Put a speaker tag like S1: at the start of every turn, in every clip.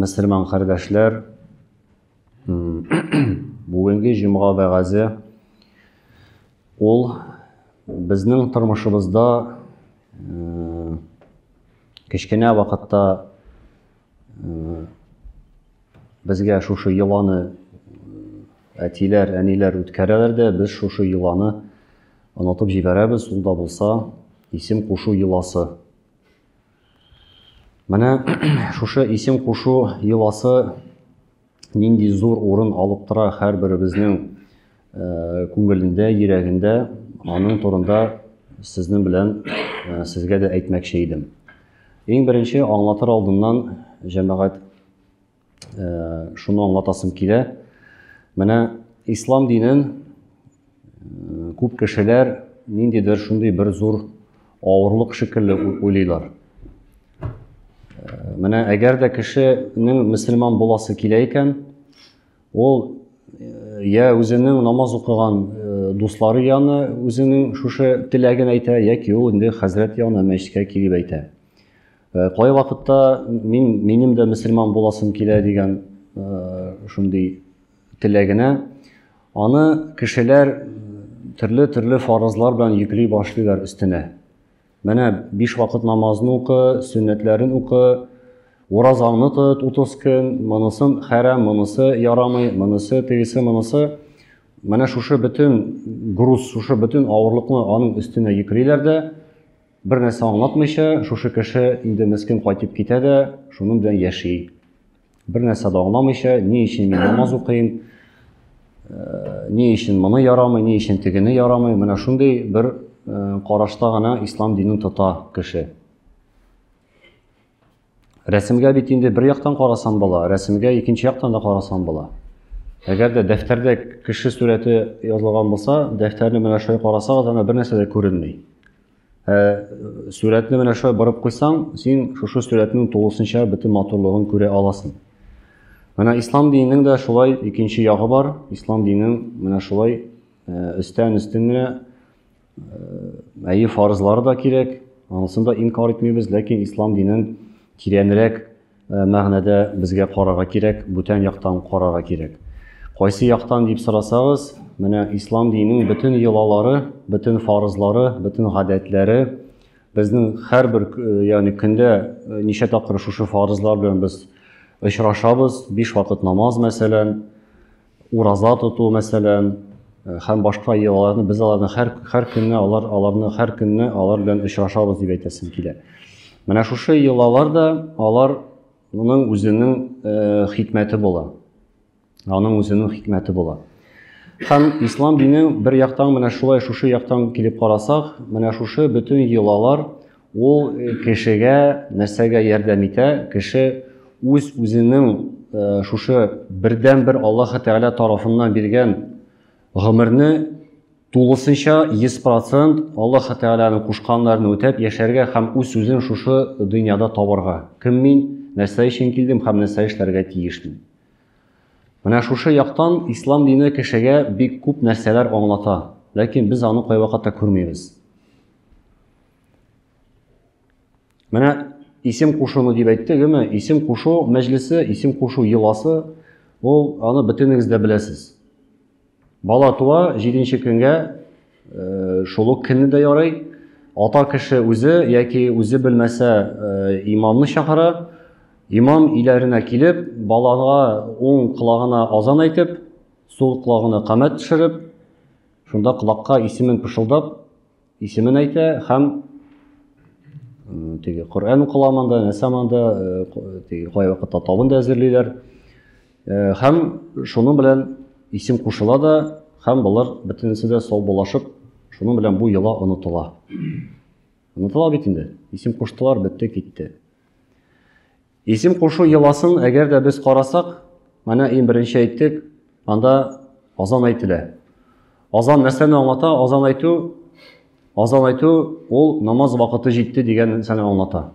S1: Мөселман кардәшләр, бүгенге җомга вәгазе ул безнең тормышыбызда кечкенә вакытта безгә шушы йоланы әтиләр, әниләр үткәрәләр дә, без шушы йоланы онытып җибәрәбез, ул да булса исем кушу йоласы. Менә шушы исем кушу йоласы нинди зур урын алып тора һәрберебезнең э, күңелендә, йөрәгендә. Аның турында сезнең белән э, сезгә дә әйтмәкче идем. Иң беренче аңлатыр алдыннан җәмәгать шуны аңлатасым килә. Менә ислам динен күп кешеләр ниндидер шундый бер зур авырлык шикелле уйлыйлар. Менә әгәр дә кешенең мөселман буласы килә икән, ул я үзенең намаз укыган дуслары яны үзенең шушы теләген әйтә, яки ул инде хәзрәт яны мәчеткә килеп әйтә. Э, кай вакытта мин минем дә мөселман буласым килә дигән э, шундый теләгенә аны кешеләр э, төрле төрле фарызлар белән йөкли башлыйлар өстенә менә биш вакыт намазын укы сөннәтләрен укы уразаңны тот утыз көн монысын хәрәм монысы ярамый монысы тегесе монысы менә шушы бөтен груз шушы бөтен авырлыкны аның өстенә йөклиләр дә Бер нәрсә аңлатмыйча, шушы кеше инде мескен кайтып китә дә, шуның белән яши. Бер нәрсә дә аңламыйча, ни өчен мин намаз укыйм, э, ни өчен моны ярамый, ни өчен тегене ярамый, менә шундый бер э, карашта гына ислам динен тота кеше. Рәсемгә бит инде бер яктан карасам була, рәсемгә икенче яктан да карасам була. Әгәр дә дәфтәрдә кеше сурәте язылган булса, дәфтәрне менә шулай карасагыз, ана бер нәрсә дә күренми. Ә сурәтне менә шулай борып куйсаң, син шушы сурәтнең тулысынча бөтен матурлыгын күрә аласың. Менә ислам диненең дә шулай икенче ягы бар. Ислам диненең менә шулай өстән-өстен генә Әйе, фарызлар да кирәк, анысын да инкар итмибез, ләкин ислам динен тирәнрәк э, мәгънәдә безгә карарга кирәк, бүтән яктан карарга кирәк. Кайсы яктан дип сорасагыз, менә ислам диненең бөтен йолалары, бөтен фарызлары, бөтен гадәтләре безнең һәрбер э, ягъни көндә э, ничә тапкыр шушы фарызлар белән без очрашабыз, биш вакыт намаз мәсәлән, Ураза тоту, мәсәлән, һәм башка йолаларны без аларны һәр һәр көнне алар аларны һәр көнне алар белән очрашабыз дип әйтәсем килә. Менә шушы йолалар да алар моның үзенең э, хикмәте була. Аның үзенең хикмәте була. Һәм ислам дине бер яктан менә шулай шушы яктан килеп карасак, менә шушы бөтен йолалар Ул кешегә нәрсәгә ярдәм итә? Кеше үз үзенең шушы бердәнбер Аллаһы Тәгалә тарафыннан биргән гомерне тулысынча 100% Аллаһы Тәгаләнең кушканнарын үтәп яшәргә һәм үз үзен шушы дөньяда табарга. Кем мин, нәрсә өчен килдем һәм нәрсә эшләргә тиешмен? Менә шушы яктан ислам дине кешегә бик күп нәрсәләр аңлата, ләкин без аны кайвакытта күрмибез. Менә исем кушуны дип әйттегеме? Исем кушу мәҗлесе, исем кушу йоласы, ул аны бөтенегез дә беләсез. Бала туа, 7 көнгә э, шул ук көнне дә ярый, ата кеше үзе яки үзе белмәсә э, имамны чакыра, имам иләренә килеп, балага уң колагына азан әйтеп, сул колагына камәт төшереп, Шунда колакка исемен пышылдап, исемен әйтә һәм теге Коръән укыла монда, нәрсә монда, теге кай вакытта табын да әзерлиләр. Һәм шуның белән исем кушыла да, һәм болар бөтенесе дә саубулашып, шуның белән бу йола онытыла. Онытыла бит инде. Исем куштылар, бетте, китте. Исем кушу йоласын әгәр дә без карасак, менә иң беренче әйттек, анда азан әйтелә. Азан нәрсәне аңлата? Азан әйтү, азан әйтү ул намаз вакыты җитте дигән нәрсәне аңлата.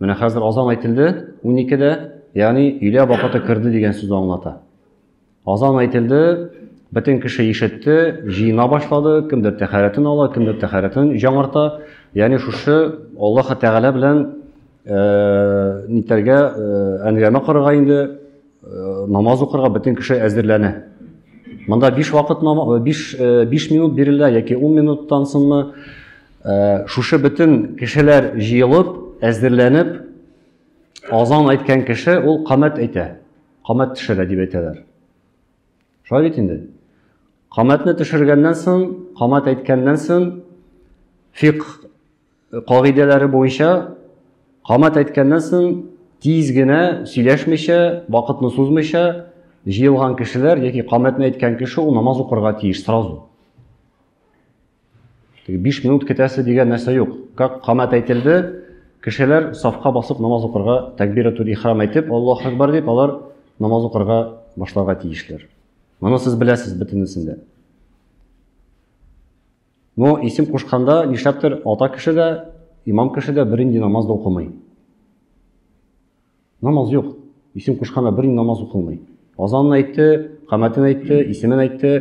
S1: Менә хәзер азан әйтелде 12-дә, ягъни өйлә вакыты керде дигән сүзне аңлата. Азан әйтелде, бөтен кеше ишетте, җыена башлады, кемдер тәхәрәтен ала, кемдер тәхәрәтен җаңарта. Ягъни шушы Аллаһ Тәгалә белән э, нитәргә э, әңгәмә корырга инде э, намаз укырга бөтен кеше әзерләнә. Монда 5 вакыт 5 5 минут бирелә яки 10 минуттан соңмы шушы бөтен кешеләр җыелып, әзерләнеп азан әйткән кеше ул камәт әйтә. камәт төшерә дип әйтәләр. Шулай бит инде. Камәтне төшергәннән соң, камәт әйткәннән соң фикъ кагыйдәләре буенча камәт әйткәннән соң тиз генә сөйләшмичә, вакытны сузмыйча җыелган кешеләр яки камәтне әйткән кеше ул намаз укырга тиеш сразу. Теге 5 минут көтәсе дигән нәрсә юк. Как камат әйтелде, кешеләр сафка басып намаз укырга, тәкбиратул ихрам әйтеп, Аллаһу акбар дип, алар намаз укырга башларга тиешләр. Моны сез беләсез бөтенесен дә. Но исем кушканда нишләптер ата кеше дә, имам кеше дә бернинди намаз да укымый. Намаз юк. Исем кушканда бер намаз укылмый. Азанын әйтте, камәтен әйтте, исемен әйтте.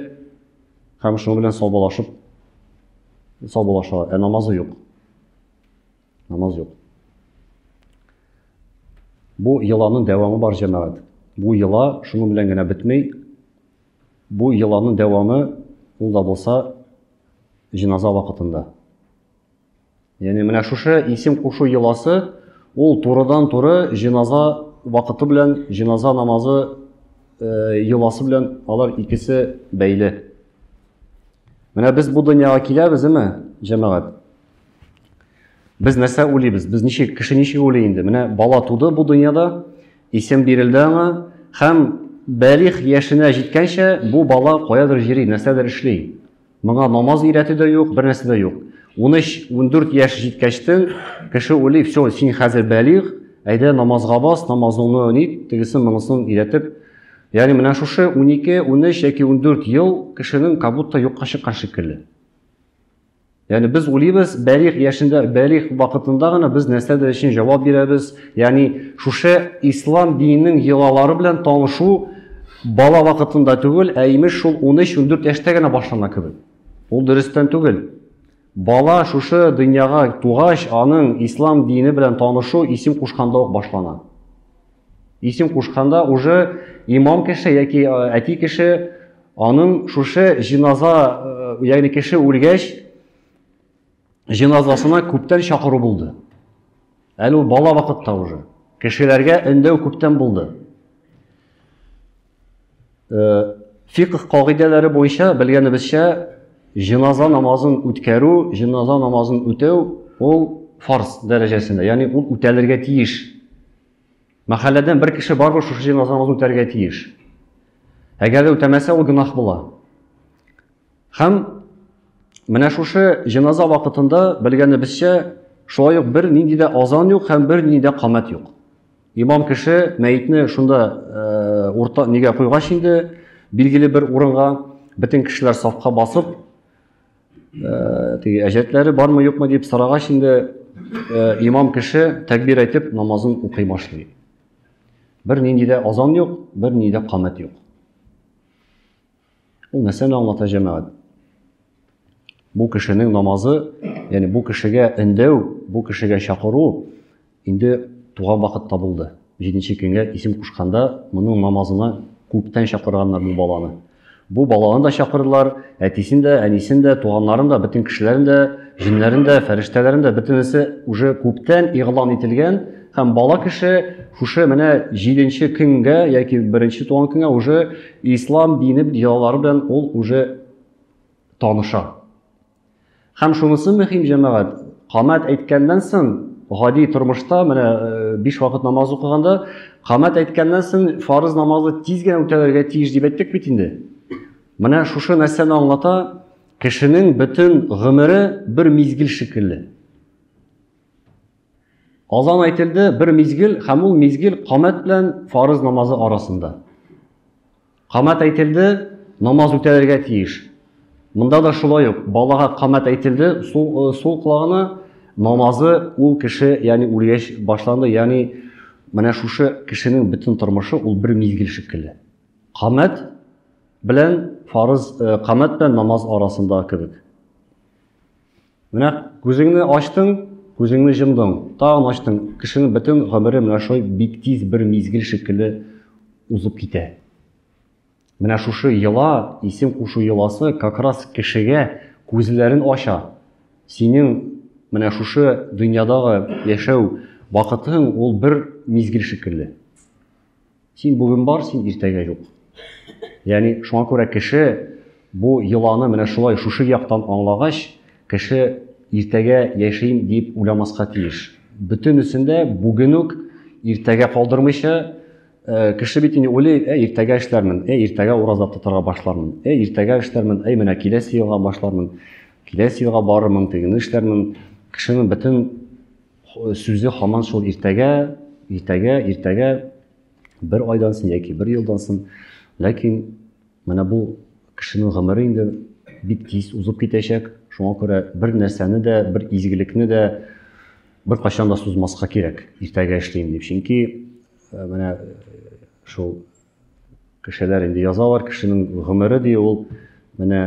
S1: Һәм шуның белән саубалашып саубалашалар. Ә намазы юк. Намаз юк. Бу еланын дәвамы бар җәмәгать. Бу ела шуның белән генә бетмей. Бу еланын дәвамы ул да булса җиназа вакытында. Яни менә шушы исем кушу йоласы ул турыдан-туры җеназа вакыты белән җеназа намазы э, йоласы белән алар икесе бәйле. Менә без бу дөньяга киләбез, әме, җәмәгать. Без нәрсә уйлыйбыз? Без ничек кеше ничек уйлый инде? Менә бала туды бу дөньяда, исем бирелде аңа һәм бәлих яшенә җиткәнчә бу бала каядыр йөри, нәрсәдер эшли. Моңа намаз өйрәтү дә юк, бер нәрсә дә юк. 13-14 яшь җиткәчтен кеше уйлый, все, син хәзер бәлигъ, әйдә намазга бас, намазыңны нит, тегесен монысын өйрәтеп. Ягъни менә шушы 12, 13 яки 14 ел кешенең как будто юкка чыккан шикелле. Ягъни без уйлыйбыз, бәлигъ яшендә, бәлигъ вакытында гына без нәрсәдер өчен җавап бирәбез, Ягъни шушы ислам диненең йолалары белән танышу бала вакытында түгел, ә имеш шул 13-14 яшьтә генә башлана кебек. Ул дөрестән түгел. Бала шушы дөньяга тугач, аның ислам дине белән танышу исем кушканда ук башлана. Исем кушканда уже имам кеше яки э, әти кеше аның шушы җиназа, э, ягъни кеше үлгәч, җеназасына күптән чакыру булды. Әле ул бала вакытта уже. Кешеләргә өндәү күптән булды. Э, фикх кагыйдәләре буенча белгәнебезчә җеназа намазын үткәрү, җеназа намазын үтәү ул фарз дәрәҗәсендә, ягъни ул үтәлергә тиеш. Мәхәлләдән бер кеше барбы шушы җеназа намазын үтәргә тиеш. Әгәр дә үтәмәсә, ул гөнаһ була. Һәм менә шушы җеназа вакытында белгәнебезчә шулай ук бер нинди дә азан юк һәм бер нинди дә камәт юк. Имам кеше мәетне шунда э, урта нигә куйгач инде билгеле бер урынга бөтен кешеләр сафка басып э, теге әҗәтләре бармы юкмы дип сорагач инде э, имам кеше тәкбир әйтеп намазын укый башлый. Бер нинди дә азан юк, бер нинди дә камәт юк. Ул нәрсәне аңлата җәмәгать? Бу кешенең намазы, ягъни бу кешегә өндәү, бу кешегә чакыру инде туган вакытта булды. Җиденче көнгә исем кушканда моның намазына күптән чакырганнар бу баланы. Бу баланы да чакырдылар, әтисен дә, әнисен дә, туганнарын да, бөтен кешеләрен дә, җеннәрен дә, фәрештәләрен дә, бөтенесе уже күптән игълан ителгән һәм бала кеше шушы менә җиденче көнгә яки беренче туган көнгә уже Ислам дине биялары белән ул уже таныша. Һәм шунысы мөһим җәмәгать. Камат әйткәннән соң, гади тормышта менә 5 э, вакыт намаз укыганда, камат әйткәннән соң фарыз намазы тиз генә үтәлергә тиеш дип әйттек бит инде. Менә шушы нәрсәне аңлата, кешенең бөтен гомере бер мизгел шикелле. Азан әйтелде бер мизгел һәм ул мизгел камәт белән фарыз намазы арасында. Камәт әйтелде, намаз үтәлергә тиеш. Монда да шулай ук балага камәт әйтелде, сул, сул колагына намазы ул кеше, ягъни үлгәч башланды, ягъни менә шушы кешенең бөтен тормышы ул бер мизгел шикелле. Камәт белән фарыз, камәт белән намаз арасында кебек. Менә күзеңне ачтың, күзеңне җомдың, тагын ачтың. Кешенең бөтен гомере менә шулай бик тиз бер мизгел шикелле узып китә. Менә шушы йола, исем кушу йоласы как раз кешегә күзләрен ача. Синең менә шушы дөньядагы яшәү вакытың ул бер мизгел шикелле. Син бүген бар, син иртәгә юк. Яни шуңа күрә кеше бу йоланы менә шулай шушы яктан аңлагач, кеше иртәгә яшим дип уйламаска тиеш. Бөтенесен дә бүген үк иртәгә калдырмыйча, э, кеше бит инде уйлый, ә иртәгә эшләрмен, ә иртәгә ураза тотарга башлармын, ә иртәгә эшләрмен, әй менә киләсе елга башлармын, киләсе елга барырмын, тегене эшләрмен. Кешенең бөтен Сүзе хаман шул иртәгә, иртәгә, иртәгә, бер айдан сон яки бер елдан сон. Ләкин менә бу кешенең гомере инде бик тиз узып китәчәк. Шуңа күрә бер нәрсәне дә, бер изгелекне дә бер кайчан да сузмаска кирәк. Иртәгә эшлим дип. Чөнки менә шул Кешеләр инде язалар, кешенең гомере ди ул менә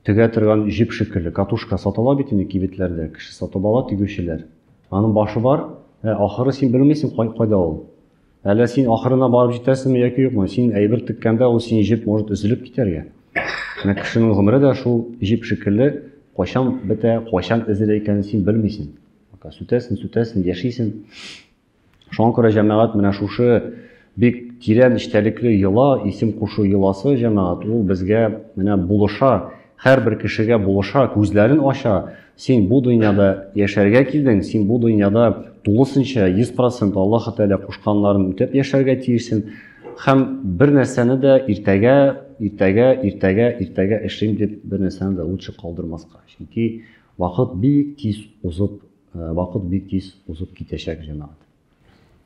S1: төгә торган җип шикелле, катушка сатала бит инде кибетләрдә, кеше сатып ала тигүчеләр. Аның башы бар, ә ахыры син белмисең кай, кайда ул. Әллә син ахырына барып җитәсеңме яки юкмы? Син әйбер теккәндә ул син җип может өзелеп китәргә. Менә кешенең гомере дә шул җип шикелле, кайчан бетә, кайчан эзелә икәнен син белмисең. Сүтәсең, сүтәсең, яшисең. Шуңа күрә җәмәгать менә шушы бик тирән эчтәлекле йола, исем кушу йоласы җәмәгать, ул безгә менә булыша, һәрбер кешегә булыша, күзләрен ача, син бу дөньяда яшәргә килдең, син бу дөньяда тулысынча, 100% Аллаһы Тәгалә кушканнарын үтәп яшәргә тиешсең һәм бер нәрсәне дә иртәгә, иртәгә, иртәгә, иртәгә эшлим дип бер нәрсәне дә лучше калдырмаска. Чөнки Вакыт бик тиз узып, вакыт бик тиз узып китәчәк, җәмәгать.